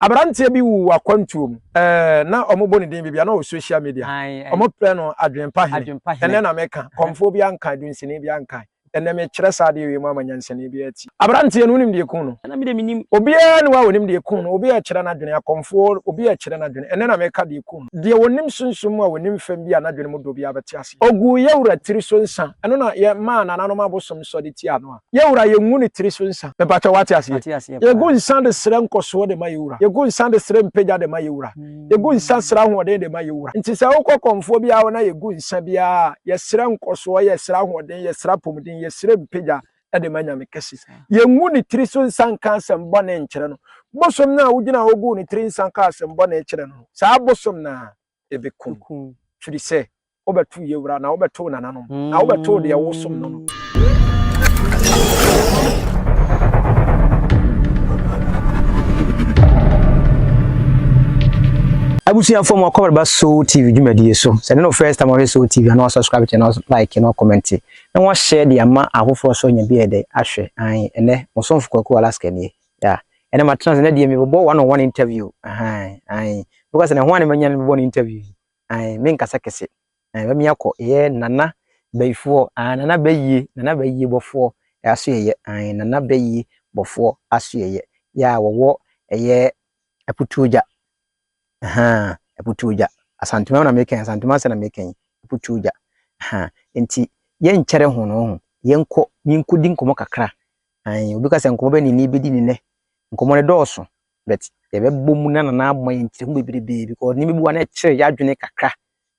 Aberanteɛ bi wuu wɔ akwantuo mu. Ɛɛ na ɔmo bɔ ne din bebia na ɔwɔ social media ɔmo prɛ no adwenpa hene ɛnɛ na me ka kɔmfoɔ biaa nkae dunsini biaa nkae ɛnɛ me kyerɛ saa adeɛ wei mu ama nyansani biaa ati. Aberanteɛ no wonim deɛ kuu no? Ɛna me deɛ menim. Obiaa ni hɔ a ɔnim deɛ kuu no obi ɛɛkyerɛ no adwene akɔmfoɔ obi ɛɛkyerɛ no adwene ɛnɛ na me ka deɛ kuu no deɛ ɔnim sunsum mu a ɔnim fam bi a nadwene mu dɔ biaa bɛte aseɛ. Ɔguu yɛwura tiri so nsa ɛno na yɛ maa nananom abosom sɔde tiaa no a Yɛ wura yɛ ngu ne tiri so nsa. Me pakyɛ wate aseɛ. Mate aseɛ paa. Yɛ gu nsa de srɛ nkɔsoɔ de ma yɛ wura. Yɛ gu nsa de srɛ mpagya de ma yɛ wura. Yɛ gu nsa srɛ ahoɔden de ma yɛ wura. Nti sɛ wo kɔ kɔmfoɔ biara hɔ na yɛ gu nsa biara a, yɛ srɛ nkɔsoɔ, yɛ srɛ ahoɔden, yɛ srɛ apɔmuden, yɛ srɛ mpagya de ma Nyame kɛse. Yɛ ngu ne tiri so nsa nka asɛm bɔne nkyerɛ no. Bosom no a wo gyina hɔ guu ne tiri nsa kaa asɛm bɔne kyerɛ no no, saa bosom no ara ebekum. Firi sɛ wobɛtow yɛn wura, na wobɛtow nananom, na wobɛtow deɛ wosom no no. abusuafoɔ mu akɔbara ba so tv dwumadie so sɛ ne no first time ɔhwɛ so tv ana subscribe channel like na comment na wɔahyɛ de ama ahofoɔ so nya bi ɛdɛ ahwɛ an ɛnɛ mosomfo kwaku alaska nie Yeah. Ɛna ma trans na deɛ me bɔbɔ one on one interview. Ahan. Ahan. Because na ho ane manya no bɔbɔ no interview. Ahan. Me nkasa kese. Ahan. Ba mi akɔ. Ye nana bayifoɔ. Ahan. Nana bayie. Nana bayie bɔfoɔ. Aso ye. Ahan. Nana bayie bɔfoɔ. Aso ye. Yeah, wɔwɔ ɛyɛ aputuogya. Ahan. Aputuogya. Asantuma na meka yi. Asantuma ase na meka yi. Aputuogya. Ahan. Nti yɛnkyɛre ho no ho. Yɛnkɔ, menkɔdi nkɔmmɔ kakra. Aane, obi ka sɛ nkɔmmɔ bɛn na yɛn bɛdi ne nnɛ? Nkɔmmɔ no dɔɔso, but yɛbɛbɔ mu na na ama yɛn nkyerɛ mu bebrebe because nneɛma bi wɔ hɔ na ɛkyere yɛn adwene kakra.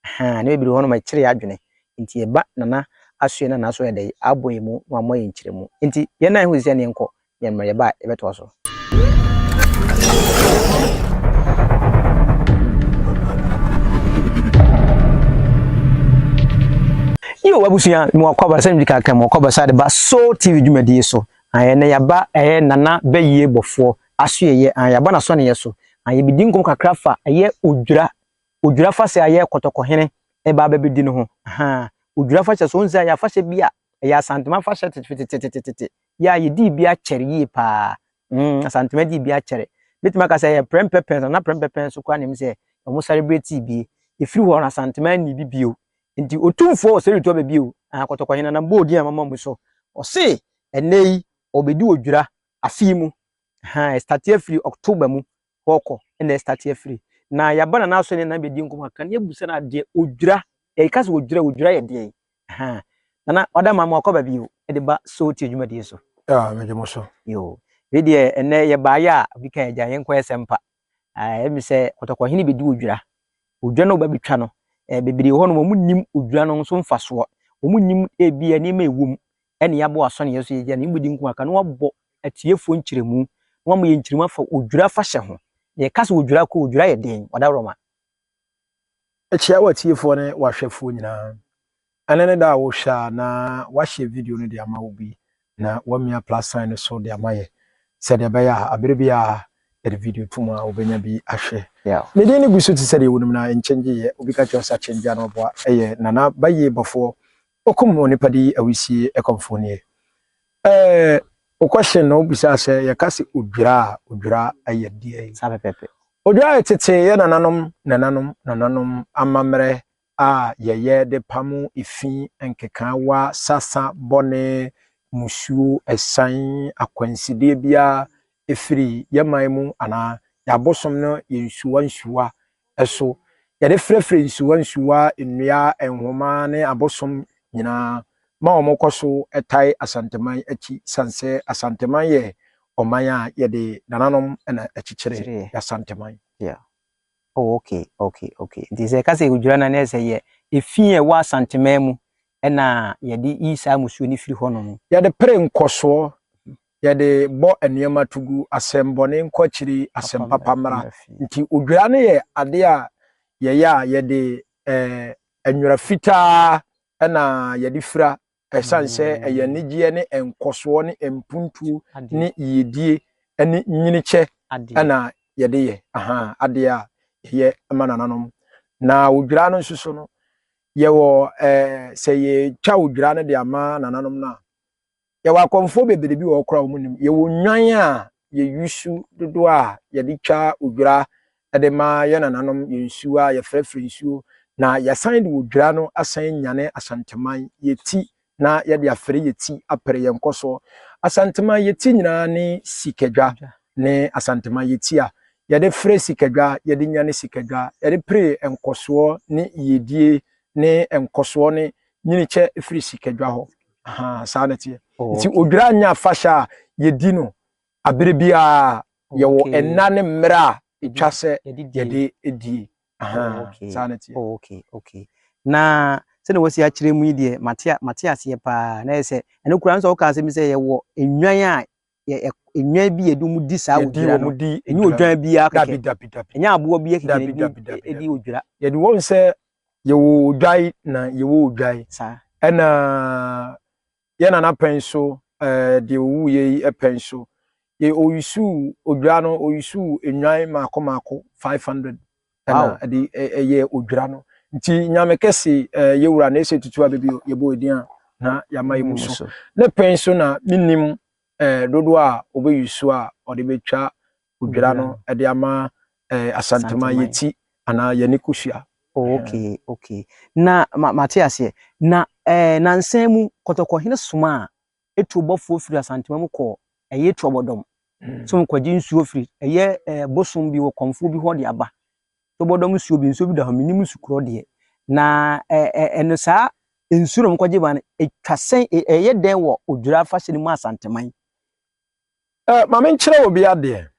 Ahaa, nneɛma bebree wɔ hɔ nom ɛkyere yɛn adwene. Nti yɛba nana asoɛ na nana so yɛ dɛ abɔ yɛn mu na wama yɛn nkyerɛ mu. Nti yɛn nan ho sisi a ne yɛnkɔ, yɛn mmerɛ yɛba a yɛbɛtoa so. abusua mu akɔ abasa mu kakra mu akɔ abasa de ba soul tv dwumadie so ayɛ na yaba ɛyɛ nana bɛyie bɔfoɔ aso yɛyɛ yaba na sɔne yɛ so ayɛ bi di nkɔm kakra fa ɛyɛ odwira odwira fa sɛ ayɛ kɔtɔkɔhene ɛba abɛbɛdi no ho odwira fa sɛ so nsa yɛ afahyɛ bi a ɛyɛ asantema afahyɛ tetetetetetete yɛ a yɛdii bi akyɛre yie paa. Mm, Asantema dii bi akyɛre. Mɛtumi aka sɛ yɛ prɛmpɛpɛn so, na prɛmpɛpɛn so koraa na ɛmu sɛ wɔn sɛrebretii bi. Ɛfiri hɔ no Asantema nni bi bio. Nti otumfoɔ wɔ sɛretu aba bio. Ah, kɔtɔkɔhene nam bɔɔ din a mama mu so. Ɔse ɛnnɛ yi ɔbɛdi odwira afe yi mu. Ha, ɛstate afiri October mu hɔ kɔ na ɛstate afiri. Na yɛaba na n'asɔ ne nan bɛdi nkɔmmɔ a, ka ne abisa no adeɛ, ɔdwira, yɛka sɛ ɔdwira, ɔdwira yɛ deɛn? Ahaa. Nana, wada mama wakɔ baabi o, de ba Sowoti adwumadie so. Ah, megye mo so. Yoo. Wei deɛ, ɛnnɛ yɛbaeɛ a, obi ka agya, yɛnkɔyɛ sɛmpa. Ah, ɛyɛ me sɛ kɔtɔkɔhene bɛdi ɔdwira. Ɔdwira no a wɔbɛtwa no, eh, bebree wɔ hɔnom, wɔnnim ɔdwira no nso mfasoɔ. Wɔnnim ebia nneɛma a ɛwom, ɛne yɛabɔ asɔneɛ so yɛgya ne yɛmmɔ din nko aka na wabɔ atiefoɔ nkyerɛmu na wama yɛ nkyerɛmu afa odwira afahyɛ ho na yɛka sɛ odwira kɔ odwira yɛ den ɔdawroma kyia watiefoɔ ne wahwɛfoɔ nyinaa ɛne ne da a wohwɛ a na wahyɛ video no de ama obi na wamia plus sign no so de ama yɛ sɛdeɛ ɛbɛyɛ a abere bi a yɛde video to mu a wobɛnya bi ahwɛ yeah. ne din no gu so te sɛ deɛ wonim na nkyɛngye yɛ obi ka kyerɛ sɛ akyɛngye a na ɔboa ɛyɛ nana bayie bɔfoɔ Okum onipa de yi awisie ɛkɔmfoɔ nie ɛɛ wokɔhye na wobisaa sɛ yɛka sɛ odwira a odwira ɛyɛ deɛn? Saa pɛpɛpɛ. Odwira yɛ tetee yɛ nananom nananom nananom amammerɛ a yɛyɛ de pamo efi nkekaawa sasa bɔne musuo ɛsan akwansideɛ biara firi yɛn man mu anaa yɛn abosom no yɛ nsuwa nsuwa so. Yɛde frɛfrɛ nsuwa nsuwa, nnua, nhoma ne abosom nyinaa ma wɔkɔ so tae Asanteman akyi sane sɛ Asanteman yɛ ɔman a yɛde nananom na akyikyire yɛ Asanteman. Yeah. Oh, okay, okay, okay. Nti sɛ ɛka sɛ odwira na ne sɛ yɛ efi a ɛwɔ Asanteman mu ɛna yɛde yi saa musuo no firi hɔnom. Yɛde pere nkɔsoɔ Yɛde bɔ nneɛma to gu, asɛm bɔne nkɔ akyiri, asɛm papa mmra. Nti odwira no yɛ ade a yɛyɛ a yɛde nwera fitaa na yɛde fira ɛsiane sɛ ɛyɛ anigyeɛ ne nkɔsoɔ ne mpuntuo ne yiedie ne nyinikyɛ na yɛde yɛ adeɛ a yɛyɛ ma nananom. Na odwira no nso so no, yɛwɔ sɛ yɛtwa odwira no de ama nananom no a, Yɛwɔ akɔmfoɔ bebree bi wɔ hɔ koraa a wɔnnim. Yɛwɔ nnwan a yɛyusu dodoɔ a yɛde twa odwira de ma yɛn nananom, yɛn nsuo a yɛfrɛfrɛ nsuo, na yɛasan de odwira no asan anyane Asanteman, Yeti, na yɛde afɛre Yeti apere yɛn nkɔsoɔ. Asanteman Yeti nyinaa ne Sikadwa ne Asanteman Yeti a yɛde fere Sikadwa, yɛde nyane Sikadwa, yɛde pere nkɔsoɔ ne yiedie ne nkɔsoɔ ne nyinikyɛ firi Sikadwa hɔ. Ahaa, saa na ɛteɛ. Oh, Nti okay. odwira nyɛ afahyɛ a yɛdi no abere biara yɛwɔ Okay. nna ne mmerɛ a ɛtwa sɛ Yɛde die. yɛde die. Oh, Ahaa, okay. saa na ɛteɛ. Oh, okay, okay. Na sɛdeɛ wɔasi akyerɛ mu yi deɛ mate a- mate aseɛ paa na ɛyɛ sɛ ɛno koraa no sɛ woka asɛm bi sɛ yɛwɔ nnwan a yɛ nnwan bi yɛde wɔn di saa odwira no ɛnyɛ odwan biara kɛkɛ ɛnyɛ aboɔ bi kɛkɛ na ɛdi odwira yɛde wɔn sɛ yɛwɔ odwan na yɛwɔ odwan ɛna yɛn nana pɛn so ɛɛ deɛ owu yɛ yi pɛn so yɛ oyusu odwira no oyusu nnwan mako mako five hundred ɛna ɛde ɛyɛ odwira no nti nyame kɛse ɛɛ yɛ wura na ɛsɛ tutu abɛbi yɛ bɔ edin a na yɛama yɛ mu so ne pɛn so na menim ɛɛ dodoɔ a ɔbɛyi so a ɔde bɛtwa odwira no ɛde ama ɛɛ asantoma yɛ ti anaa yɛ ne kosua. Oh, okay okay na ma mate aseɛ na ɛɛ nansan mu kɔtɔkɔhene soma a etuobɔfoɔ firi Asantema mu kɔɔ ɛyɛ Tuobɔdɔm sɛ wɔn kɔgye nsuo firi ɛyɛ ɛɛ bosom bi wɔ kɔmfoɔ bi hɔ de aba. Tuobɔdɔm nsuo bi nsuo bi da hɔ menim nsu korɔ deɛ na ɛɛ ɛɛ ɛno saa nsuo na wɔn kɔgye ba no etwa sɛn e, ɛyɛ dɛn wɔ Odwira afahyɛ no mu Asanteman. Ɛɛ maame nkyerɛ wɔ bi adeɛ.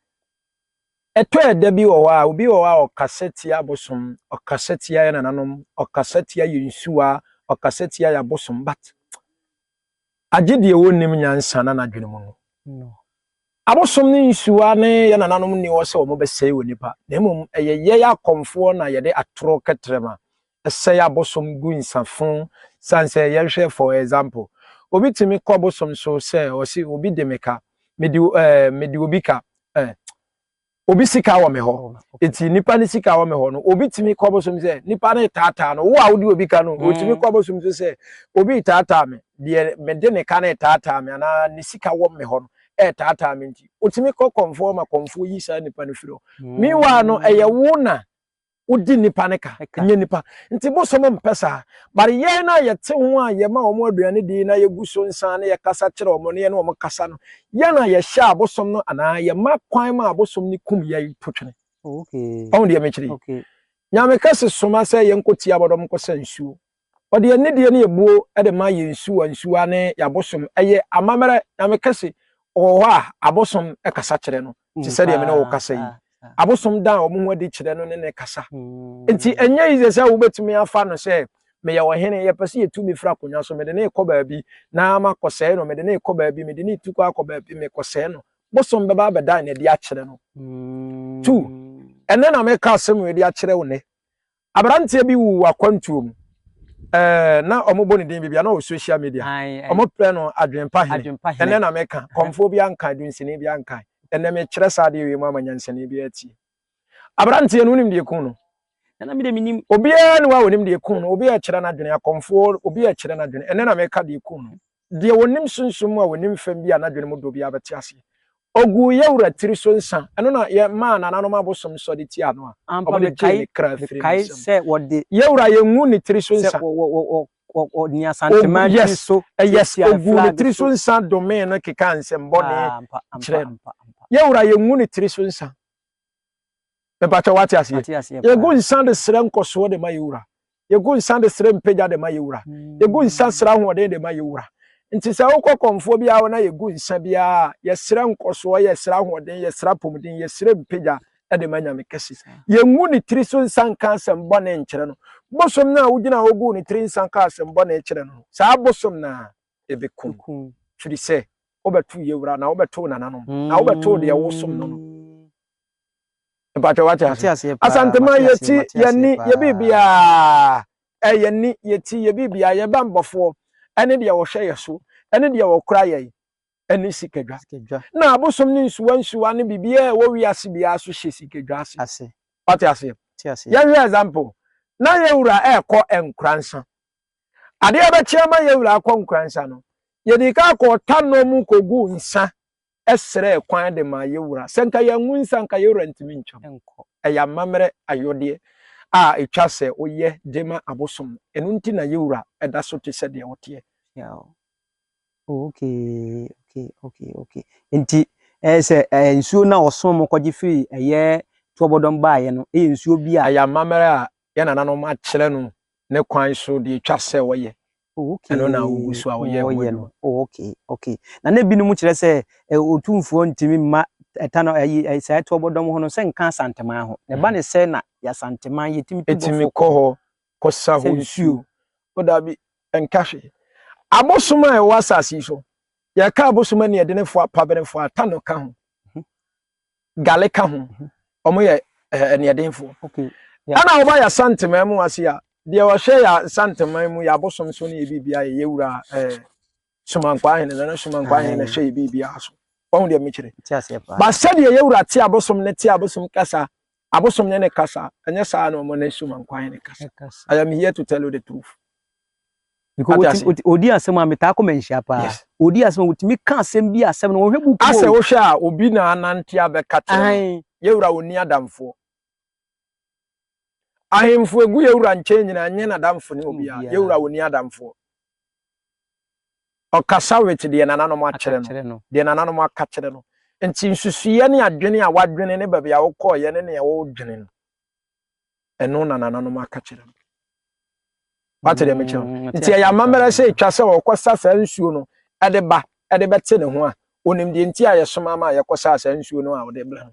Ɛtɔ ɛda bi wɔ hɔ a obi wɔ hɔ a ɔkasa tia abosom ɔkasa tia yɛ nananom ɔkasa tia yɛ nsuo a ɔkasa tia yɛ abosom but agye deɛ wɔnnim nyansa na n'adwene mu no. Abosom ne nsuwa ne yɛn nananom nni hɔ sɛ wɔbɛsɛe onipa, na mmom ɛyɛ yɛn akɔmfoɔ na yɛde atoro kɛtrɛma sɛe abosom gu nsafo sane sɛ yɛnhwɛ for example obi tumi kɔ bosom so sɛ ɔse obi de me ka, mede eh, mede obi ka eh, obi sika wɔ me hɔ eti nipa ne sika wɔ me hɔ no obi tumi kɔ bosom sɛ nipa ne taataa no wo a wode obi ka no mm. otumi kɔ bosom so sɛ obi taataa me deɛ mede ne ka ne taataa me anaa ne sika wɔ me hɔ no ɛtaataa me nti otumi kɔ kɔnfoɔ ma kɔnfoɔ yi saa nipa no firi hɔ mm. meanwhile no ɛyɛ wo na wodi nnipa no ka ɛnyɛ nnipa nti bosom mpɛ saa but yɛn no a yɛte ho a yɛma wɔn aduane di na yɛgu so nsa na yɛkasa kyerɛ wɔn na yɛne wɔn kasa no yɛn a yɛhyɛ abosom no anaa yɛma kwan ma abosom no kum yɛn potwene ɔho deɛ mekyerɛ yi nyame kɛse soma sɛ yɛnkɔti abɔdɔm nkɔsa nsuo Ɔde yɛn nidie ne yɛn buo de ma yɛn nsuwa nsuwa ne yɛn abosom. Ɛyɛ amammerɛ, Nyame kɛse wɔ hɔ a abosom kasa kyerɛ no te sɛdeɛ me ne wo kasa yi. Abosom da wɔn ho adi kyerɛ no ne no kasa. Nti ɛnyɛ easy sɛ wobɛtumi afa no sɛ meyɛ ɔhene, yɛpɛ sɛ yɛtu me firi akonnwa so, mede no rekɔ baabi na makɔsɛe no, mede no rekɔ baabi, mede no retu kɔ akɔ baabi, mekɔsɛe no. Bosom bɛba abɛdan no adi akyerɛ no. Tu! Ɛnnɛ na mereka asɛm wei de akyerɛ wo nnɛ. Aberanteɛ bi wuu wɔ akwantuo mu eh, na ɔmo bɔ ne din bibia na ɔwɔ social media, ɔmo prɛ no Adwenpa Hene, ɛnɛ na me ka, kɔmfoɔ biara nkae, dunsini biara nkae, ɛnɛ me kyerɛ saa adeɛ wei mu ama nyansani biara atie. Aberanteɛ no wonim deɛ ɛkuu no? Nana me deɛ me nim. Obiara ni hɔ a ɔnim deɛ ɛkuu no, obi ɛrekyerɛ no adwene, akɔmfoɔ, obi ɛrekyerɛ no adwene, ɛnɛ na me ka deɛ ɛkuu no. Deɛ ɔnim sunsum mu a ɔnim fam bi a n'adwene mu dɔ biara bɛte aseɛ. Ɔguu yɛn wura tiri so nsã. Ɛno na yɛmaa nananom abosom nsɔ de tiaa no a Ampa wɔde gyee mekae, ne kra firii ne mekae nsam. sɛ wɔde Yɛn wura, yɛngu ne tiri so sɛ nsã. wɔ, wɔ, wɔ, wɔ, wɔ, wɔ nea Ogu, Santema yes, tiri so eh, yes, tiatiaa ɔguu ne flag tiri so so. nsã domee no kekaa nsɛm bɔne Ah, ampa, ampa, kyerɛɛ no. ampa, ampa. Yɛn wura, yɛngu ne tiri so nsã. Mepakyɛw, wate aseɛ? Yɛgu nsa de srɛ nkɔsoɔ de ma yɛn Wura. Yɛgu nsa de srɛ mpagya de ma yɛn Wura. Yɛgu nsa srɛ ahoɔden de ma yɛn Wura. Nti sɛ wokɔ kɔmfoɔ biara hɔ na yɛgu nsa biara a, yɛsrɛ nkɔsoɔ, yɛsrɛ ahoɔden, yɛsrɛ apɔmuden, yɛsrɛ mpagya de ma Nyame Kɛse. Yɛngu ne tiri so nsa nka asɛm bɔne nkyerɛ no. Bosom no a wogyina hɔ guu ne tiri nsa kaa asɛm bɔne kyerɛ no no, saa bosom no ara, ɛbɛkum. Firi sɛ wobɛto yɛwura na wobɛto nananom na wobɛto deɛ wosom no no. Mpatwa wate ase. Asantema yɛti yɛni yɛbiribiaa ɛyɛni yɛti yɛbiribiaa yɛba mbɔfoɔ ɛne deɛ wɔhwɛ yɛ so ɛne deɛ wɔkora yɛn ɛne sikadwa. Na abosom ne nsuwa nsuwa ne biribiaa ɛwɔ wiase biaa so hyɛ sikadwa ase. Wate aseɛ? Yɛhwɛ example na yɛwura ɛkɔ nkuransa Adeɛ bɛkye ama yɛn wura akɔ nkoransa no, yɛdii kan kɔɔ tanɔ mu kɔguu nsa srɛɛ kwan de maa yɛn wura. Sɛ nka yɛangu nsa a, nka yɛn wura ntumi ntwam nkɔ. Ɛyɛ amammerɛ ayɔdeɛ a ɛtwa sɛ woyɛ de ma abosom no. Ɛno nti na yɛn wura da so te sɛ deɛ ɔteɛ. Yaw. Oh, okay, okay, okay, okay. Nti ɛyɛ sɛ ɛyɛ nsuo no a ɔsom mo kɔgye firi ɛyɛ tuabɔdɔm baeɛ no ɛyɛ nsuo bi a. Ɛyɛ amammerɛ a yɛn nananom akyerɛ no ne kwan so deɛ ɛtwa sɛ wɔyɛ. Oh, okay. Ɛno na wogu so a wɔyɛ wɔn adwuma. Oh, okay, okay. Na na ebinom kyerɛ sɛ otumfoɔ ntumi mma ɛta no ayi sɛ ɛto ɔbɔdɔm ho no sɛ nka asanteman ho. Na ɛba ne sɛ na yɛasanteman yɛtumi tu bɔfo. Ɛtumi kɔ hɔ kɔsa hɔ nsuo. O dabi, ɛnka hwee. Abosom a ɛwɔ asase yi so, yɛka abosom ani ɛdenefo a pabenefo a ta no ka ho. gale ka ho ɔmo yɛ eh, aniɛdenfoɔ okay. yeah. ɛna ɔba yɛ santeman mu ase a deɛ ɔhwɛ yɛ santeman mu yɛ abosom so ne yɛ biribia yɛ yɛwura eh, somankwa ahene no ne somankwa ahene na ɛhwɛ yɛ biribia so wahu deɛ mekyerɛ ba sɛdeɛ yɛwura te abosom ne te abosom kasa Abosom nye ne kasa, ɛnyɛ saa na ɔmo ne Suman kwan ne kasa. I am here to tell you the truth. Odi asɛm a metaa kɔ manhyia paa. Yes. Odi asɛm a wotumi ka asɛm bi asɛm no wɔhwɛ buku. Asɛ wohwɛ a obi na anante abɛka kyerɛ no. Yɛwura onni adamfoɔ. Ahemfo egu yɛwura nkyɛn nyinaa nyɛ n'adamfo ne obiara. Yɛwura onni adamfoɔ. Ɔkasa with deɛ nananom akyerɛ no, deɛ nananom aka kyerɛ no. Nti nsusuiɛ ne adwene a wadwene ne baabi a wokɔɔeɛ ne nea wodwene no, ɛno na nananom aka kyerɛ no. Wate deɛ mekyerɛ no? Nti ɛyɛ amammerɛ sɛ ɛtwa sɛ ɔkɔsa saa nsuo no de ba de bɛte ne ho a, ɔnim deɛ nti a yɛsoma ma yɛkɔsaa saa nsuo no a ɔde brɛ no.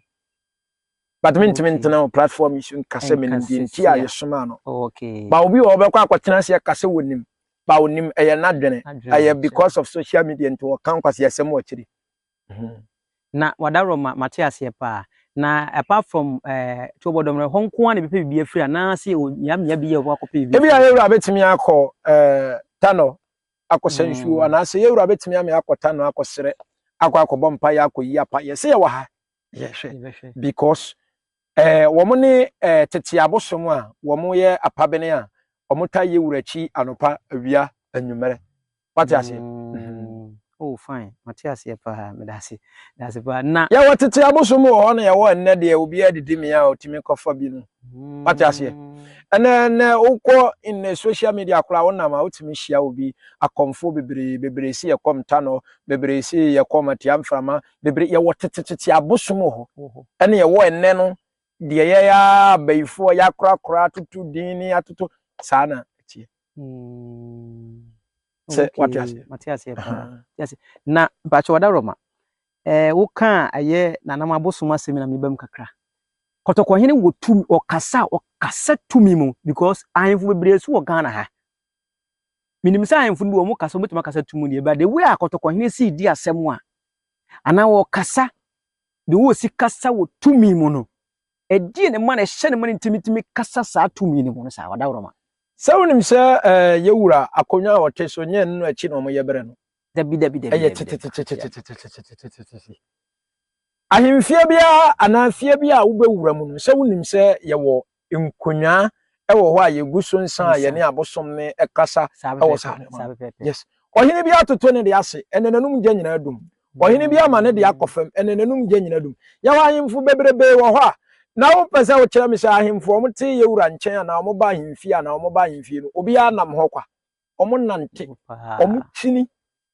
But me ntumi ntena wɔ platform yi so nka sɛ menim deɛ nti a yɛsomaa no. Ba obi wɔ hɔ ɔbɛkɔ akɔtena ase aka sɛ ɔnim. Ba ɔnim, ɛyɛ n'adwene. Ɛyɛ because of social media nti wɔka nkwaseasɛm wɔ akyiri. Na w'adaworɔ ma mate aseɛ paa. Na apart from Tuo Bɔdɔm no, ɛhɔ nko ara na ɛbɛpɛ biribi afiri anaasɛ ɛwɔ mmeammea bi yɛ ɔbɛkɔ akɔpɛ biribi afiri? Ebia yɛwura bɛtumi akɔ Tanɔ akɔsa nsuo anaasɛ yɛwura bɛtumi ame akɔ Tanɔ akɔsrɛ, akɔ akɔbɔ mpaeɛ, akɔyi apayɛ. Sɛ yɛwɔ ha, yɛhwɛ because ɛɛ eh, wɔn ne ɛɛ eh, tete abosom a wɔyɛ apabene a wɔtaa yɛ wura akyi anopa awia anwummerɛ wate aseɛ. Mm. Mm-hmm. oh fine mate aseɛ paa meda ase da ase paa na. yɛwɔ tete abosom wɔ hɔ na yɛwɔ nnɛ deɛ obiara didi mmea a otumi kɔfa bi no mm. wate aseɛ ɛnɛ ɛnɛ wokɔ in social media koraa wonam a wotumi hyia obi akɔmfo bebree bebree si yɛkɔm tanɔ bebree si yɛkɔm atia mframa bebree yɛwɔ tetetete abosom wɔ hɔ ɛne yɛwɔ ɛnɛ no deɛ yɛyɛ ara abayifoɔ yɛakorakora atoto din ne atoto saa na ɛteɛ hmm. sɛ wate aseɛ mate aseɛ paa na mpakyɛ wɔda rɔma ɛɛ eh, woka a ɛyɛ nanam abosom asɛm na meba mu kakra kɔtɔkɔhene wɔ tumi ɔkasa ɔkasa tumi mu because ahemfo bebree so wɔ ghana ha Menim sɛ ahemfo no bi wɔn kasa wɔbɛtumi akasa tu mu deɛ but the way a kɔtɔkɔhene sii di asɛm a anaa wɔkasa de wɔsi kasa wɔ tumi mu no ɛdeɛ ne ma no ɛhyɛ ne ma no ntimitimi kasa saa tumi no mu no saa wadaworo ma. Sɛ wonim sɛ eh, yɛwura akonnwa a ɔte so nyɛ no akyi na wɔyɛ berɛ no Dabi dabi dabi. Ɛyɛ tetetetetetetetetetetetete. Ahemfie biara anaa fie bi a wobɛwura mu no, sɛ wonim sɛ yɛwɔ nkonnwa ɛwɔ hɔ a yɛgu so nsa a yɛne abosom ne ɛkasa ɛwɔ saa nneɛma. Yes. Ɔhene bi atoto ne de ase, ɛnɛ n'anum gya nyinaa dum. Ɔhene bi ama ne de akɔ fam, ɛnɛ n'anum gya nyinaa dum. Yɛwɔ ahemfo bebrebe wɔ hɔ a, na wopɛ sɛ wokyerɛ me sɛ ahemfo wɔn te yɛwura nkyɛn anaa wɔn ba ahemfie anaa wɔn ba ahemfie no, obiara nam hɔ kwa. wɔn nante wɔn twini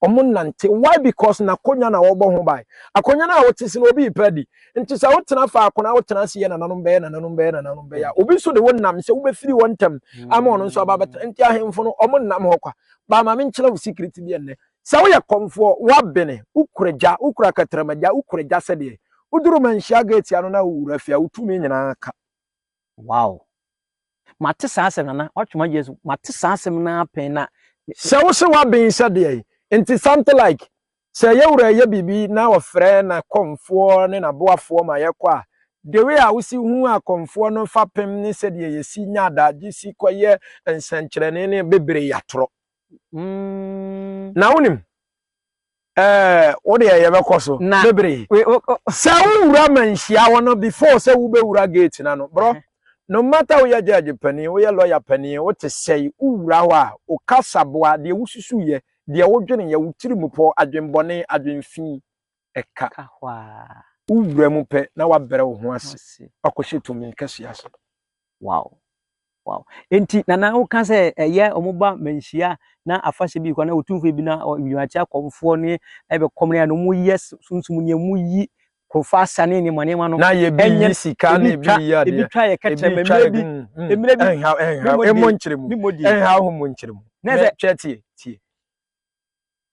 wɔn nante why because na akonnwa na wɔbɔ ho ban akonnwa no a wɔte si na obi repɛ di nti sɛ wotena faako na wotena ase yɛ nananom bɛyɛ nananom bɛyɛ nananom bɛyɛ a obi nso de wo nam sɛ wobɛfiri wɔn ntam ama ɔno nso aba bɛtena nti ahemfo no wɔn nam hɔ kwa baa maame nkyerɛ wo secret bi ɛnnɛ sɛ woyɛ kɔmfoɔ woabene wokura gya wokura katarama gya wokura gya sɛdeɛ woduru manhyia gate ano na wowura fie a wotumi nyinaa ka Wow! Mate saa asɛm nana watwe ma Jesus mate saa asɛm na apɛn na. Sɛ wo se waben sɛ deɛn nti something like sɛ yɛwura yɛ biribi na ɔfrɛ na kɔmfoɔ ne na boafoɔ ma yɛkɔ a the way a wosi hu a kɔmfoɔ no fa pem ne sɛdeɛ yɛsi nya adagye si kɔ yɛ nsɛnkyerɛnne ne bebree atorɔ na wonim Eh, wo deɛ yɛbɛkɔ so Na- bebree. We- wo- wo- Sɛ wowura ma nhyia hɔ no before sɛ wobɛwura gate no ano. Brɔ, no matter woyɛ judge panin, woyɛ lawyer panin, wote sɛe, wowura hɔ a, wo kasaboa, deɛ wosusuiɛ, deɛ wodweneɛ, wo tirimupɔ, adwenbɔne, adwenfi, ɛka. ka hɔ a Wowura mu pɛ na woabrɛ wo ho ase, ase. woakɔhyɛ tumi kɛseɛ ase. wow wow nti nana woka sɛ ɛyɛ wɔn ba manhyia na afahyɛ bi kɔ na otumfoɔ bi na wiase akɔmfoɔ ne ɛbɛkɔm na wɔn yɛ sunsun ne mu yi kofa asa ne nneɛma nneɛma no na yɛ bi yi sika na ebi yi adeɛ ebi twa yɛ kɛtɛ mmerɛ bi mmerɛ bi ɛnha ɛnha ɛmo nkyerɛ mu ɛnha ɔmo nkyerɛ mu na sɛ twɛ tie tie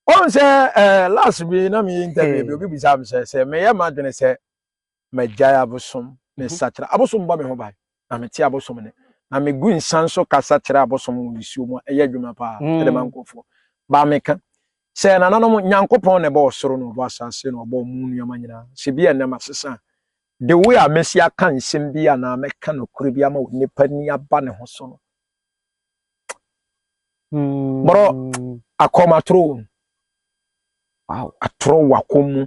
wɔn sɛ ɛɛ last bi na mi yi ntɛbi bi obi bisa mi sɛ sɛ mɛ yɛ ma dwene sɛ magyae abosom, mesakyera. Abosom bɔ me ho ban, na mete abosom nne. Na megu nsa nso kasa kyerɛ abosom wɔ nsuo mu a ɛyɛ adwuma paa mm. de ma nkurɔfoɔ. Baa meka sɛ nananom Nyankopɔn na ɛbɔ ɔsoro na ɔbɔ asase na ɔbɔ mu nneɛma nyinaa. Sɛ bi a ɛnɛ masesa a, de wo a mɛsi aka nsɛm bi anaa mɛka nokorɛ bi ama onipa ni aba ne ho so no, Hmm. Bro, akɔm atoro wo. Wow. Atoro wo akɔm mu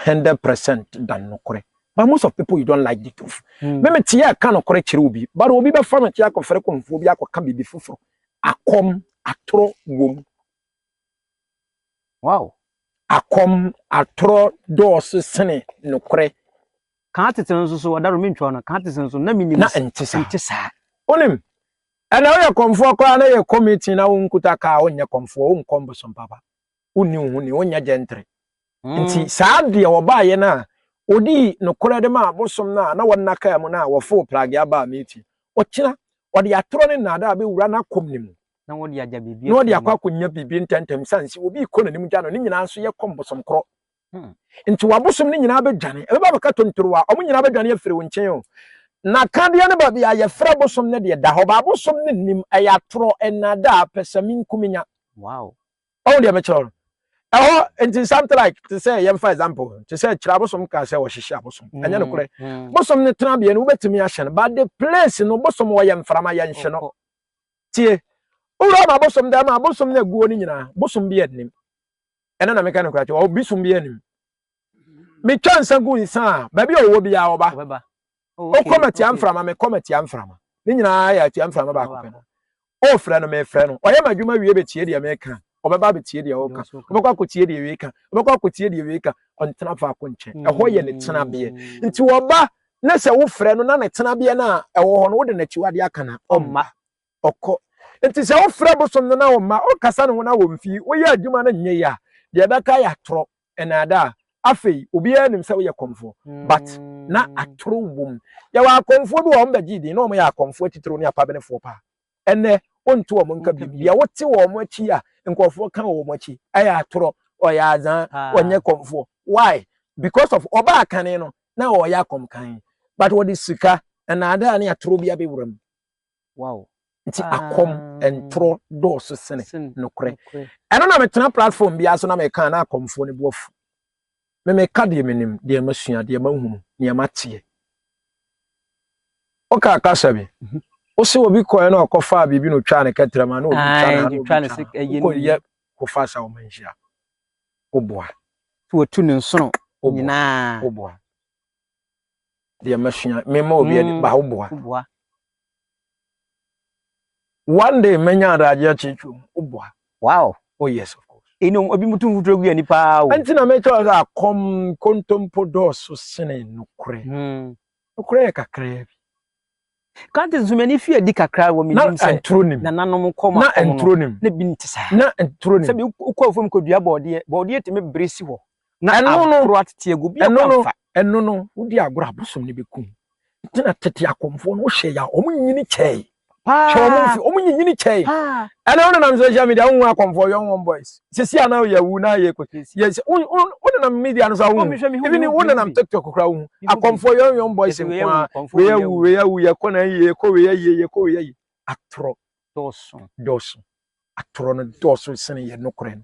100% dan nokorɛ. But most of people you don't like the truth. Hmm. Me me tie aka nokorɛ kyerɛ obi. But obi bɛfa me te akɔfrɛ kɔmfoɔ bi akɔka biribi foforɔ. Akɔm atoro wom. Wow. Akɔm atoro dɔɔso sene nokorɛ. Ka atete no nso so, ɔdaro mentwaw no, ka atete no nso, na minnim sɛ ɛnte saa. Ɛnte saa. Wonim, ɛnna woyɛ kɔmfoɔ koraa na yɛkɔ meeting na wonkuta kaa wonyɛ kɔmfoɔ, wonkɔ mbosom papa, wonni wo ho ni, wonyɛ gyɛntere. Nti saa deɛ wɔbaeɛ no a wɔdii nokorɛ de maa abosom no a na wɔnna kaa mu no a wɔfoo pragea baa meeting, ɔkyena ɔde atorɔ ne nnaadaa bɛwura n'akɔm no mu, na ɔde agya biribi na ɔde afiri akɔ mu. akɔnya biribi ntɛmntɛm, sane sɛ obi rekɔ n'anim gya no, ne nyinaa nso yɛkɔ mbosom korɔ. Hmm. Nti w'abosom no nyinaa bɛdwane, ɛbɛba abɛka tontoro a, wɔn nyinaa bɛdwane afiri wo nkyɛn o. Na kadeɛ no baabi a yɛfrɛ bosom no deɛ da hɔ, ba abosom no nnim, ɛyɛ atorɔ, nnaadaa, pɛsɛmenkominya. Wow. Ɔho deɛ mekyerɛ no. Ɛhɔ, nti something like, te sɛ yɛmfa example, te sɛ kyerɛ abosom kaa sɛ wɔhyehye abosom. Mm, Ɛnyɛ nokorɛ. Mm. Bosom no tena bea no, wobɛtumi ahyɛ no, but the place no, bosom wɔyɛ mframa yɛnhye no. Tie, wowura ma abosom dɛ ma abosom no aguo no nyinaa, bosom bi annim. ɛno na meka nokora kyɛ wɔ obi som biara nim metwa nsa gu nsa a baabi a ɔwɔ biara ɔba wokɔ oh, matia mframa mekɔ matia mframa ne nyinaa yɛ atia mframa baako pɛ no ɔfrɛ no mefrɛ no ɔyɛ m'adwuma wie bɛtie deɛ meka ɔbɛba abɛtie deɛ ɔka ɔbɛkɔ akɔtie deɛ wei ka ɔbɛkɔ akɔtie deɛ wei ka ɔntena faako nkyɛn mm. ɛhɔ yɛ ne tenabeɛ nti ɔba na sɛ wofrɛ no na ne tenabeɛ no a ɛwɔ hɔ no wode n'akyiwadeɛ aka na ɔmma ɔkɔ. Nti sɛ wofrɛ bosom no na ɔmma, ɔkasa ne ho na wɔmfi, woyɛ adwuma no nyɛ yie a, deɛ ɛbɛka yɛ atorɔ, nnaadaa. Afei, obiara nim sɛ woyɛ kɔmfoɔ, but na atoro wom. Yɛwɔ akɔmfoɔ bi wɔ hɔ, wɔbɛgyee din, na wɔyɛ akɔmfoɔ atitiriw ne apabenefoɔ paa. Ɛnnɛ, wonte wɔn nka bio. Deɛ wote wɔn akyi a nkurɔfoɔ ka wɔ wɔn akyi, ɛyɛ atorɔ, ɔyɛ azaa, ɔnyɛ kɔmfoɔ. Why? Because of ɔbaa kane no, na ɔreyɛ akɔmkan, but ɔde sika, nnaadaa ne atorɔ bi abɛwura mu. wow nti akɔm ntorɔ dɔɔso sene nokorɛ ɛno na metena platform biara so na meka na akɔmfoɔ no boafu me meka deɛ menim deɛ masua deɛ mahunu deɛ mateɛ woka kasa bi mhm. wo se obi kɔɛ na ɔkɔfaa biribi na ɔtwaa ne kɛtrɛma na obi twa na ɔtwa ne se wokɔyɛ kofa sa wɔma nhyia woboa wɔtu ne nsono nyinaa woboa deɛ masua mema obi adi ba wo boa one day mɛnya adagye akyerɛkyerɛ mu wo boa wow oh yes of course ɛnom obi mutu mfuturo gu ani paa o ɛnti na mɛkyɛ ɔsɛ akɔm kontompo dɔɔso sene nokorɛ hmm. nokorɛ yɛ kakraa bi Kanti nso m'ani fi adi kakra wɔ menim sɛ nananom kɔ ma kɔm no na bi nte saa. Sɛ bi wokɔ afuom kɔdua bɔɔdeɛ, bɔɔdeɛ tumi bere si hɔ na aboro atete agu bi akɔ amfa. Ɛno no, wodi agorɔ a bosom no bɛkum. Nti na tete akɔmfoɔ no wohyɛ yɛ a wɔn nyini kyɛe. Hyɛ wɔn mfe, wɔn nyinyini kyɛe. Ɛnɛ wo nenam social media wohu akɔmfoɔ yɔn wɔn boys. sisi a na yɛwu na yɛkɔtɔ si yɛ wonenam media no so awo ebi ne wonenam tiktok koraa wo akɔmfoɔ yɔnyɔn boys nko a wei awu wei awu yɛkɔ na yie yɛkɔ wei ayie yɛkɔ wei ayie atorɔ dɔɔso dɔɔso atorɔ no dɔɔso sene yɛ nokorɛ no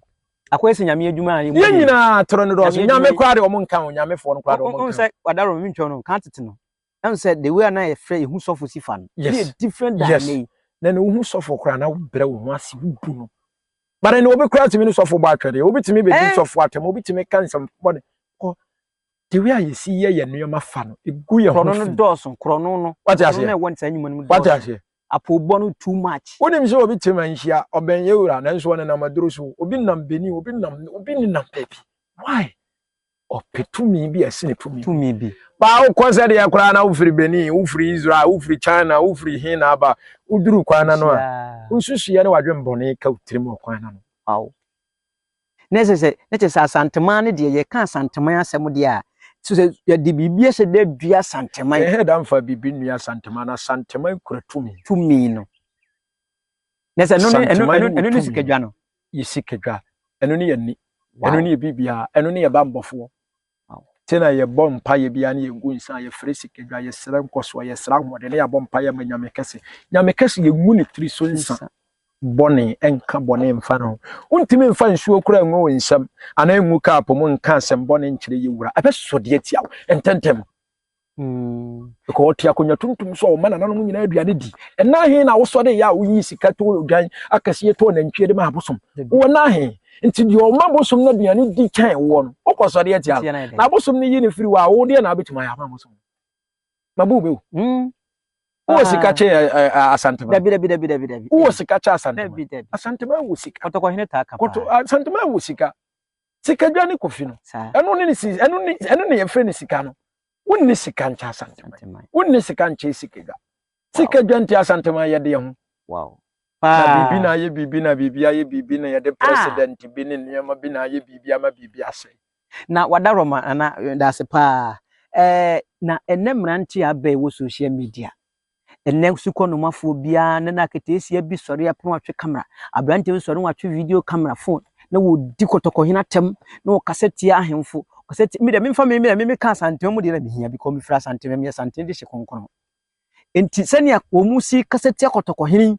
akɔyɛ sɛ nyame adwuma a yɛn nyinaa atorɔ no dɔɔso nyame koraa de ɔmo nka ho nyamefoɔ no koraa de ɔmo nka ho sɛ wadaro mentwa no ka tete no Ɛhu sɛ the way a na yɛfrɛ yɛhu sɔfo si fa no. Yes. Ɛyɛ different than yes. ɛnɛ Na na wohu sɔfo koraa na wobrɛ wo ho ase wobu no. Bare no obi koraa tumi ne sɔfo bɔ atwɛdeɛ. Obi tumi bɛdi eh? sɔfo atɛm. Obi tumi ka nsɛm bɔne. Kɔ the way a yɛsi yɛ yɛ nneɛma fa no ɛgu yɛ ho fi. Korɔno no dɔɔso. Korɔno no. Wate aseɛ. Korɔno no ɛwɔ saa nnwuma no mu dɔɔso. Wate aseɛ apobɔ no too much. wonim sɛ obi te ma nhyia ɔbɛn yɛ wura nanso ɔnenam aduro so obi nam beni obi nam obi nenam baabi why ɔpɛ tumi bi a ɛsi ne tumi tumi bi baa wokɔ sɛ deɛ koraa na wofiri benin wofiri israel wofiri china wofiri he na aba woduru kwan na no a wosusuiɛ ne wadwen bɔne ka wo tirim ɔkwan na no aw na ɛsɛ sɛ na kyɛ sɛ asanteman no deɛ yɛka asanteman asɛm deɛ a so sɛ yɛde biribi ɛsɛ dɛ dua asanteman ɛhɛ da mfa biribi nnua asanteman no asanteman kura tumi tumi no na sɛ ɛno ne ɛno ɛno ɛno ne sikadwa no yɛ sikadwa ɛno ne yɛ ni ɛno ne yɛ biribiara ɛno ne yɛ bambɔfoɔ te na yɛbɔ mpa yɛ biara ne yɛgu nsa yɛfrɛ sikadwa yɛsrɛ nkɔsoɔ yɛsrɛ ahoɔden ne yɛabɔ mpa yɛ ma nyame kɛse nyame kɛse yɛngu ne tiri so nsa bɔne ɛnka bɔne mfa no wontumi mfa nsuo kora ngu wo nsam anaa ngu kaapo mu nka asɛm bɔne nkyerɛ yɛ wura ɛbɛsɔ deɛ tia wo ntɛntɛm Mm. Because ɔte akonnwa tuntum so a ɔma nananom nyinaa aduane di. Ɛna he na wosɔ de yɛ a woyi sika to odwan akɛseɛ to nantwie de ma abosom. Wɔ na he. Nti deɛ ɔma abosom no aduane di kyɛn woɔ no, wokɔ sɔre atia no. Na abosom no yi no firi wɔ a, wo deɛ na abɛtumi ayɛ ama abosom. Mabu bɛwu. Mm. Wowɔ sika kyɛ eh, eh, eh, Asantema? Dabi, dabi, dabi, dabi, dabi. Wowɔ sika kyɛ Asantema? Dabi, dabi. Asantema wɔ sika. Kɔtɔkɔhene taa ka paa. Kɔtɔ, Asantema wɔ sika. sikadwa ne kofi no ɛno ne si ɛno ne ɛno ne yɛfrɛ ne sika no wonni sika nkyɛ asanteman wonni sika nkyɛ sikadwa sikadwa nti asanteman yɛde yɛ ho wow na biribi na ayɛ biribi na biribi ayɛ biribi na yɛde ah. president bi ne nneɛma bi na ayɛ biribi ama biribi asɛ na wada rɔma ana eh, dase paa ɛɛ eh, na ɛnɛ mmerante abɛɛ wɔ social media Ɛnnɛ sukɔnomafoɔ biara na n'aketeesia bi sɔre a na watwe camera. Aberanteɛ bi sɔre na watwe video camera phone na wɔredi kɔtɔkɔhene atɛm na wɔkasa tia ahemfo. Ɔkasa tia me deɛ memfa me deɛ meka Asantehene mu deɛ na mehia bi kɔ mefiri Asantehene meyɛ Asantehene de hye kronkron. Nti sɛnea wɔn si kasa tia kɔtɔkɔhene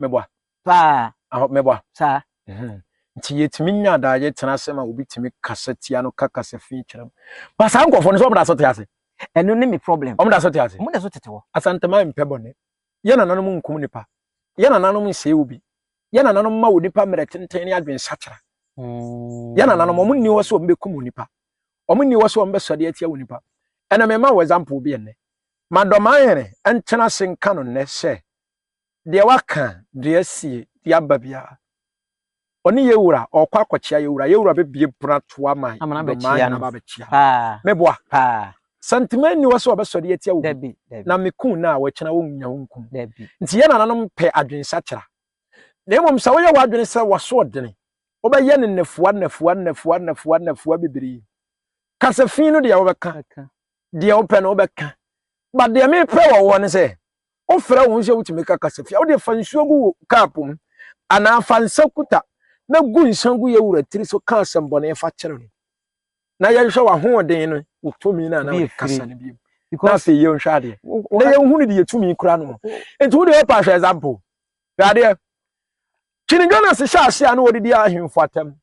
meboa. Paa. Ahɔ, meboa. Saa. Mm-hmm. Nti yɛtumi nya daagye tena ase ma obi tumi kasa tia no ka kasa fi kyerɛ mu. Ba saa nkurɔfoɔ no sɛ wɔn da so te ase. Ɛno ne me problem. Wɔn da so te ase. Wɔn da so tete hɔ. Asanteman mpɛ bɔne. Yɛ nananom nkum nipa. Yɛ nananom nsɛe obi. Yɛ nananom ma onipa mmerɛ tenten ne adwensakyera. Mm. Yɛ nananom wɔn nni hɔ sɛ wɔn bɛkum onipa. Wɔn nni hɔ sɛ wɔn bɛsɔde atia onipa. Ɛna mema wɔ example bi ɛnnɛ. Madɔma ahene ntena ase nka no nnɛ sɛ Deɛ waka deɛ asie de aba biara, ɔne yɛn wura ɔɔkɔ akɔkyea yɛn wura, yɛn wura bɛbue pono ato ama Amana nnomaa bɛkyea nyinaa no. aba abɛkyea. Paa. Meboa? Paa. Santemaa nni hɔ sɛ ɔbɛsɔre atia obi, Dabi, dabi. na meku no a, wakyina ɔnnya wo nku no. Dabi. Nti yɛn nananom mpɛ adwensakyera. Na mmom sɛ woyɛ w'adwene sɛ w'asoɔdene, wobɛyɛ no nnafua, nnafua, nnafua, nnafua, nnafua bebree. Ka sɛ fi no deɛ wobɛka. Bɛka. deɛ wopɛ no wobɛka ba deɛ mepɛ wɔ woɔ no sɛ wofrɛ wo ho sɛ wotumi ka kasafia wode fa nsuo gu wo kap mu anaa fa nsa kuta na gu nsa gu yɛ wura tiri so ka asɛmbɔne fa kyerɛ no na yɛnhwɛ w'ahoɔden no wo tumi no ana wode kasa no bio na afei yɛnhwɛ adeɛ na yɛnhu no deɛ tumi kura no nti wode wopɛ ahwɛ example hwɛ adeɛ King Jonas hyɛ ase a na wɔdidi ahemfo atam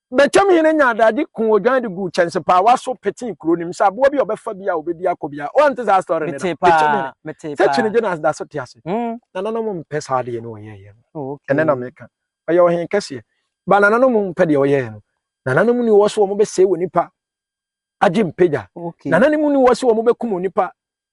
Betwam hene nyaa dade kuu odwan de guu kyɛnsepaawa so petee kuro no mu sɛ aboa bi a ɔbɛfa bi a obedi akɔ biara. Woante saa story no da? Metee paa, Betwam hene. metee Sɛ paa. kyinigye na da so te ase. Mm. Nananom mpɛ saa adeɛ no ɔyɛeɛ no. Oh, okay. Ɛnɛ na meka. Ɔyɛ ɔhene kɛseɛ. Ba nananom mpɛ deɛ ɔyɛeɛ no. Nananom ni wɔ se wɔn bɛsɛe onipa agye mpagya. Okay. Nananom ni wɔ se wɔn bɛkum onipa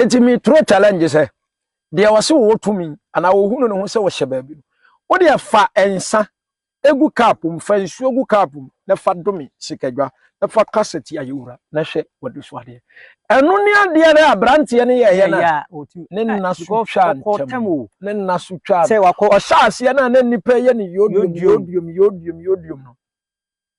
Enti me throw challenge sɛ deɛ wɔse wɔwɔ tumi anaa wɔhunu ne ho sɛ wɔhyɛ baabi no wodeɛ fa nsa egu cup mu fa nsuo gu cup mu na fa dome sikadwa na fa ka sɛ ti ayɛwura na hwɛ wɔde so adeɛ ɛno ne adeɛ no aberanteɛ no yɛɛyɛ no ne nna so twa ntɛm ne nna so twa ɔhyɛ aseɛ no a na nnipa yɛ ne yodium yodium yodium yodium no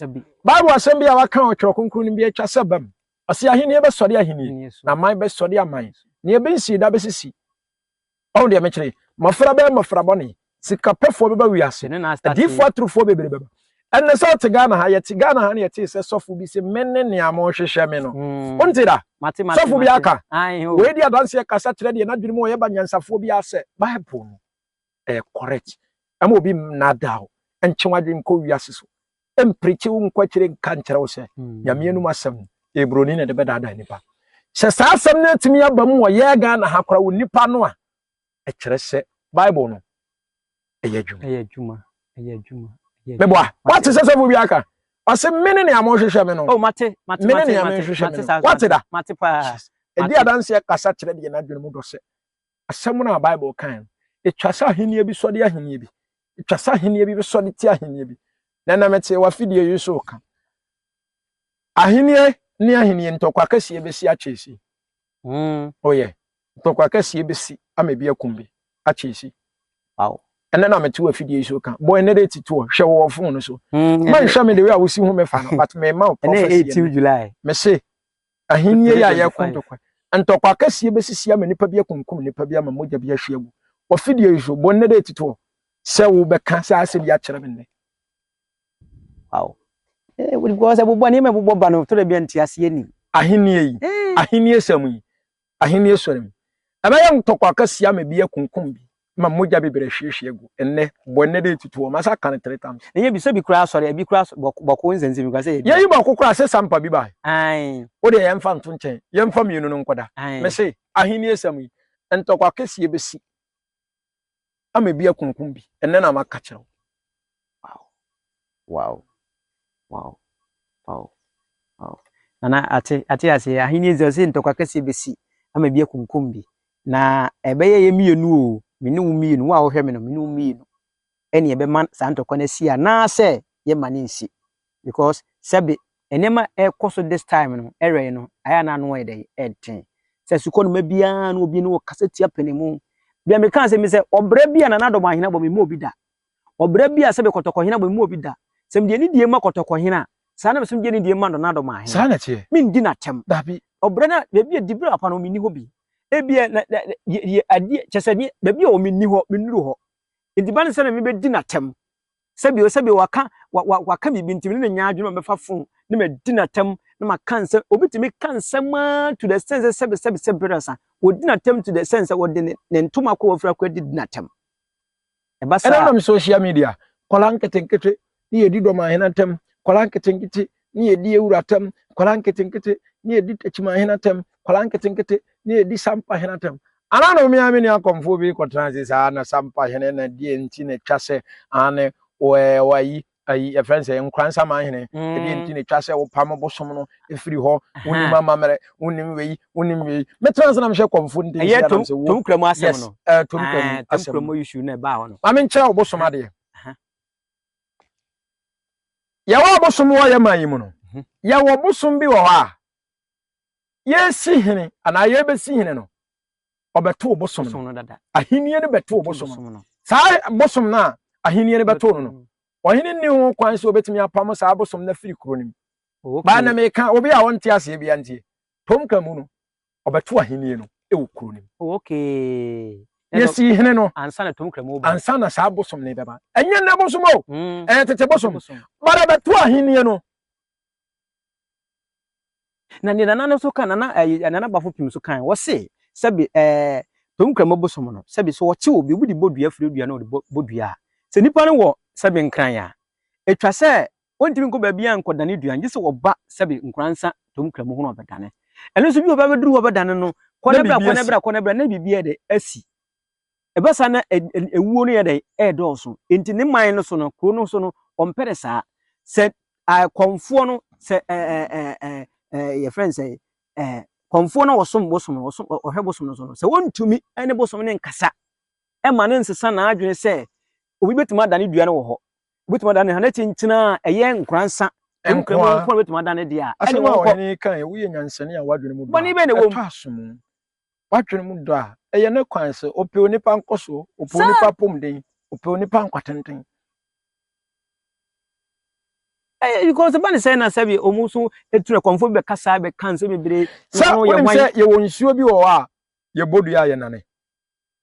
Bible asɛm bi a wɔaka wɔ Twerɛ Kronkron no mu bi atwa sɛ ɛbam. Ɔse ahennie bɛsɔre ahennie, na aman bɛsɔre aman, na ebi nsii da bɛsisi. Ɔhu deɛ mekyerɛ yi? Mmɔfra bɛyɛ mmɔfra bɔne, sikapɛfoɔ bɛba wiase, adiyifoɔ aturufoɔ bebree bɛba. Ɛnna sɛ ɔte Ghana ha, yɛte Ghana ha na yɛtee sɛ sɔfo bi se mene nea mohwehwɛ me no. Wonte da? Sɔfo bi aka. Wei di adanseɛ kasa kyerɛ deɛ n'adwene mu ɔyɛ ba nyansafoɔ biara sɛ Bible no. ɛyɛ correct ɛma obi nnaadaa wo ntwe w'adwene nkɔ wiase so mprikyi wo nkɔ akyire nka nkyerɛ wo sɛ mm. nyame anum asɛm ɛyɛ buroni na ɛde bɛdaadaa nnipa sɛ saa asɛm no atumi aba mu wɔ yɛɛ ghana ha kora wɔ nnipa no a ɛkyerɛ sɛ bible no ɛyɛ adwuma meboa wate sɛ sɛfo bi aka ɔse mene nea mohwehwɛ me no oh, mene nea mehwehwɛ me no wate da ɛdi adanseɛ kasa kyerɛ deɛ no adwene mu dɔ sɛ asɛm no a Bible kae no, etwa sɛ ahenni bi sɔre ahenni bi. Etwa sɛ ahenni bi bɛsɔre tia ahenni bi. Na ɛnam ɛte wafidie yi so ka. Ahenni ne ahenni ntɔkwa kɛseɛ bɛsi akyɛsi. Mm. Oh yeah. Ntɔkwa kɛseɛ bɛsi ama ebi akum bi akyɛsi. Wow. ɛnɛ na mete wafidie yi so ka bɔ ɛnɛ date to hwɛ wɔ fon no so manhwɛ me de wei a wosi ho mefa no but mema wo prophecy mese Ahenni yi a yɛreko ntɔkwa. Ntɔkwa kɛseɛ bɛsisi ama nipa bi akunkum nipa bi ama mogya bi ahwie agu. Wɔ fidie yi so, bɔ nnɛ dɛ titoɔ sɛ wobɛka saa asɛm yi akyerɛ me nnɛ. Wow. Eh, wodi kwa sɛ bobɔ ne me bobɔ ba no tore bia nti aseɛ ni. Ahenni yi, eh. ahenni sɛm yi, Ahenni Asɔre mu. Ɛbɛyɛ ntɔkwa kɛse ama ebi akunkum bi, ama mogya bebree ahwiehwie agu. Ɛnnɛ, bɔ ɛnnɛ de tutu hɔ. Masa aka no three times. Ɛnyɛ bi sɛ bi koraa asɔre, ɛbi koraa so bɔk, bɔko nsɛnsɛm bi koraa sɛ ɛyɛ bi a. Yɛyi bɔko koraa sɛ sampa bi bae. Ae. Wo deɛ yɛmfa nto nkyɛn, yɛmfa mmienu no nkɔda. Ae. Mese, Ahenni Asɛm yi, ntɔkwa kɛseɛ bɛsi. ama ebi akunkum bi ɛnɛ na maka kyerɛ wo wow wow wow wow wow nana ate ate ase ahenni ezi ɔsi ntɔkwa kɛseɛ besi ama ebi akunkum bi na ɛbɛyɛ yɛ mmienu o me ne wo mmienu wo a wohwɛ me no me ne wo mmienu ɛne yɛbɛma saa ntɔkwa no asi anaasɛ yɛmma no nsi because sɛbe nneɛma a ɛkɔ so this time no ɛwɛ yi no ayɛ a na ano ayɛ dɛn ɛden sɛ sukuu no ma biara no obi no wɔ kasa tia pene mu bia me kan sɛ mi sɛ ɔbrɛ bi a nana dɔm ahena bɔ me mu obi da ɔbrɛ bi a sɛbe kɔtɔkɔ hena bɔ me mu obi da sɛ me deɛ ne die ma kɔtɔkɔ hena saa na me som gye ne die ma nana dɔm ahena saa na teɛ me ndi na tɛm dabi ɔbrɛ na baabi a dibere apa no me ni hɔ bi ebi na adeɛ kyɛ sɛ baabi a wɔ me ni hɔ me nuru hɔ Ne di ba ne sɛ na mebɛdi no atɛm. Sɛbio sɛbio waka wa, wa, waka biribi nti me ne no nyɛ adwene ma mɛfa fon ne madi no atɛm na maka nsɛm. Obi tumi ka nsɛm ara to the extent sɛ sɛbe sɛbe sɛbe berɛ sa. Wɔdi no atɛm to the extent sɛ wɔde ne, ne ntoma kɔ wɔfiri akɔ adi di no atɛm. Ɛba saa a. Ɛnenam social media, nkwadaa nketenkete ne yɛdi dɔmahene atɛm, nkwadaa nketenkete ne yɛdi awura atɛm, nkwadaa nketenkete ne yɛdi takyimahene atɛm, nkwadaa nketenkete ne yɛdi sampahene atɛm. Ana na omiame ne akɔmfoɔ bi kɔtena ase saa na sampahene na deɛ nti na ɛtwa sɛ ane wɔayi ayi yɛfrɛ no sɛ nkoransamahene ɛdeɛ nti na ɛtwa sɛ wopam bosom no ɛfiri hɔ wonim amammerɛ wonim wei wonim wei mɛtena ase na mehwɛ kɔmfo nti ɛyɛ tom tom kura mu asɛm no tom kura mu asɛm no issue na ɛbaa hɔ no ma menkyerɛ wo bosom adeɛ Yɛwɔ abosom wɔ yɛn man yi mu no, mhm. yɛwɔ bosom bi wɔ hɔ a yɛresi hene anaa yɛrebɛsi hene no, ɔbɛto bosom no dada. Ahenni no bɛto bosom no. Saa bosom no a ahenni no bɛto no no, mhm. ɔhene nni ho kwan sɛ obɛtumi apamo saa bosom no afiri kuro no mu. Baa na meka obi a ɔnte aseɛ bia ntie. Tom ka mu no, ɔbɛto ahenni no wɔ kuro no mu. Oh, okay. Yɛsii hene no ansa na tom kramu ba. Ansa na saa bosom no bɛba. Ɛnyɛ nnɛ bosom o. Mm. Ɛyɛ tete bosom. Bara bɛto ahenni no. Na ne nana no so kan nana ɛɛ eh, nana bafo pim so kan wɔse sɛbi ɛɛ eh, tom kramu bosom no sɛbi so wɔte obi obi de bɔ dua firi dua na ɔde bɔ dua a sɛ nipa no wɔ sɛbi nkran a etwa sɛ Wɔntumi nkɔ baabiara nkɔdane aduan gye sɛ wɔba sɛbe nkora nsa tom kra mu hɔ na wɔbɛdane. Ɛno nso bi wɔ hɔ bɛba bɛduru hɔ bɛdane no, kɔ na bra, kɔ na bra, kɔ na bra, na biribi ayɛ dɛn? Asi. Ɛba saa na ɛwuo no yɛ dɛn? Ɛredɔɔso. Enti ne man no so no, kuro no so no, ɔmpɛ no saa. Sɛ kɔmfoɔ no, sɛ yɛfrɛ no sɛ kɔmfoɔ no a wɔsom bosom no, ɔhwɛ bosom no so no, sɛ wɔntumi ne bosom no nkasa ɛma no nsesa n'adwene sɛ obi bɛtumi adane dua no wɔ hɔ, Wobɛtumi adane ha na kyenkyena a ɛyɛ nkoransa nko ara nko na wobɛtumi adane deɛ a ɛne wɔn kɔ. Asɛm a kan yɛ woyɛ nyansani a wadwene mu dɔ a ɛtɔ asomu. Wadwene mu dɔ a ɛyɛ ne kwan sɛ ɔpɛ onipa nkɔsoɔ, ɔpɛ onipa apɔmuden, ɔpɛ onipa nkwatenten. Because ɛba ne sɛ na sɛ bi wɔn nso etu na kɔnfo bi bɛkasa bɛka nsɛm bebree. Sɛ wɔn sɛ yɛwɔ nsuo bi wɔ hɔ a yɛbɔ dua a yɛnane.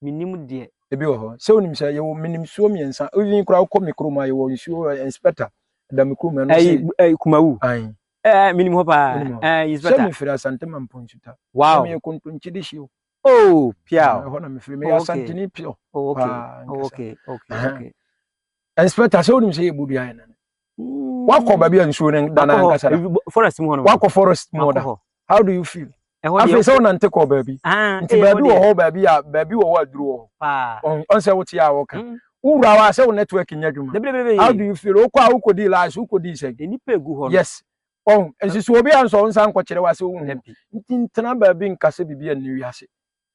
menim deɛ. Ebi wɔ hɔ. Sɛ wonim sɛ yɛwɔ menim nsuo mmiɛnsa. Even koraa wokɔ me kurom a yɛwɔ nsuo eh, inspector da me kurom ɛno Ɛyi, sɛ ɛyi Kumawu. ae Ɛɛ, menim hɔ paa. wonim hɔ. Ɛɛ, Sɛ inspector. mefiri Asante Mampo Nsuta. Na Wow. meyɛ Kontonkye de hyio. Oh, pia o. Ɛhɔ na mefiri. Oh, Meyɛ okay. Asanteni pure Oh, okay. paa Oh, ankasa. okay. Okay. Aha. Okay. Inspector sɛ wonim sɛ yɛbɔ dua yɛ nane. wakɔ baabi a nsuo no da na ankasa da forest mu hɔ no wakɔ forest mu da how do you feel afei sɛ wonante kɔɔ baabi ah, nti baabi wɔ hɔ baabi a baabi wɔ hɔ aduru wɔ hɔ ɔn sɛ wote a wɔka mm. wowura hɔ a sɛ wo network nyɛ adwuma how do you feel wokɔ a wokɔdii lies wokɔdii sɛ yes ɔn nsusuo bi a nsɔ wo nsa nkɔkyerɛ wo ase wohu nti ntena baabi nkasɛ biribi a nni wiase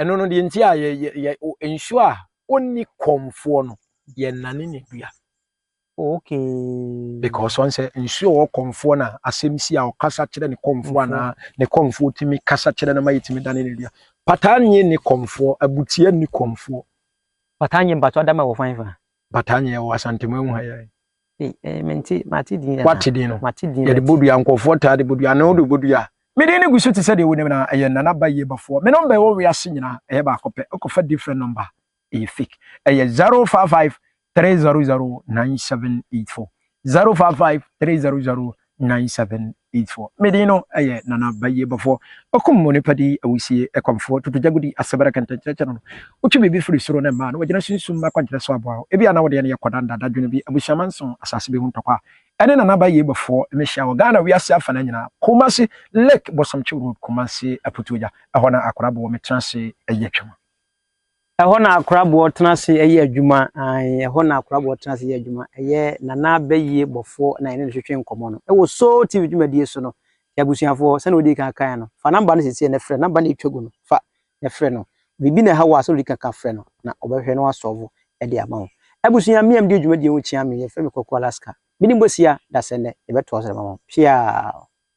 ɛno no deɛ nti a yɛ yɛ yɛ nsuo a ɔnni kɔmfoɔ no yɛnane ne dua okay because wɔn sɛ nsuo wɔ kɔmfoɔ na asɛm si a ɔkasa kyerɛ ne kɔmfoɔ anaa ne kɔmfoɔ tumi kasa kyerɛ no ma yɛtumi dane ne dua pataa nye ne kɔmfoɔ abutia ne kɔmfoɔ pataa nye mpatɔ adama wɔ fan fa pataa nye wɔ asantemu ehu ha yɛ Wate din no. Yɛde bodua, nkurɔfoɔ taa de bodua, ne wode bodua. Me din no gu so te sɛ deɛ wonim na ɛyɛ Nana Bayie Bafoɔ. Me nɔmba ɛwɔ wiase nyinaa, ɛyɛ baako pɛ. Wokɔfa different nɔmba ɛyɛ fake. Ɛyɛ 055 300 9784. 055 300 1974. Me din no yɛ Nana Bayiebɔfoɔ, ɔkum onipa di awusie, ɛkɔmfoɔ, tutugyagudi, asebere kɛntɛnkyerɛkyerɛ no, wotwe biribi firi soro ne mmaa no, wɔgyina sunsum akwankyerɛ so aboa wo, ebia na wo deɛ no yɛ kɔda nnada dwene bi, abusuaman nson, asase bi ho ntɔkwa. Ɛne Nana Bayiebɔfoɔ mehyia wɔ Ghana wiase afanaa nyinaa, Kumasi, Lake Bosomtwe Road, Kumasi, Aputuagya, ɛhɔ na Akorabo wɔ, metena ase yɛ twam. Ɛhɔ na Akoraboɔ tena ase yɛ adwuma, ae, ɛhɔ na Akoraboɔ tena ase yɛ adwuma. Ɛyɛ Nana Bɛyie Bɔfoɔ na yɛne no twetwe nkɔmmɔ no wɔ Soul TV dwumadie so no. Nti abusuafoɔ, sɛdeɛ wodii kan kaeɛ no, fa number no seesei na frɛ no, number no a ɛtwa gu no, fa na frɛ no. Biribi na ɛha wo a, sɛdeɛ wodii kan ka frɛ no, na ɔbɛhwɛ na wasɔɔvo de ama wo. Abusua, me a medi dwumadie ho kyea me, yɛfrɛ me Kwaku Alaska. Mene Bosia, Dasɛnnɛ, yɛbɛtoa so de ama mo. Piaa!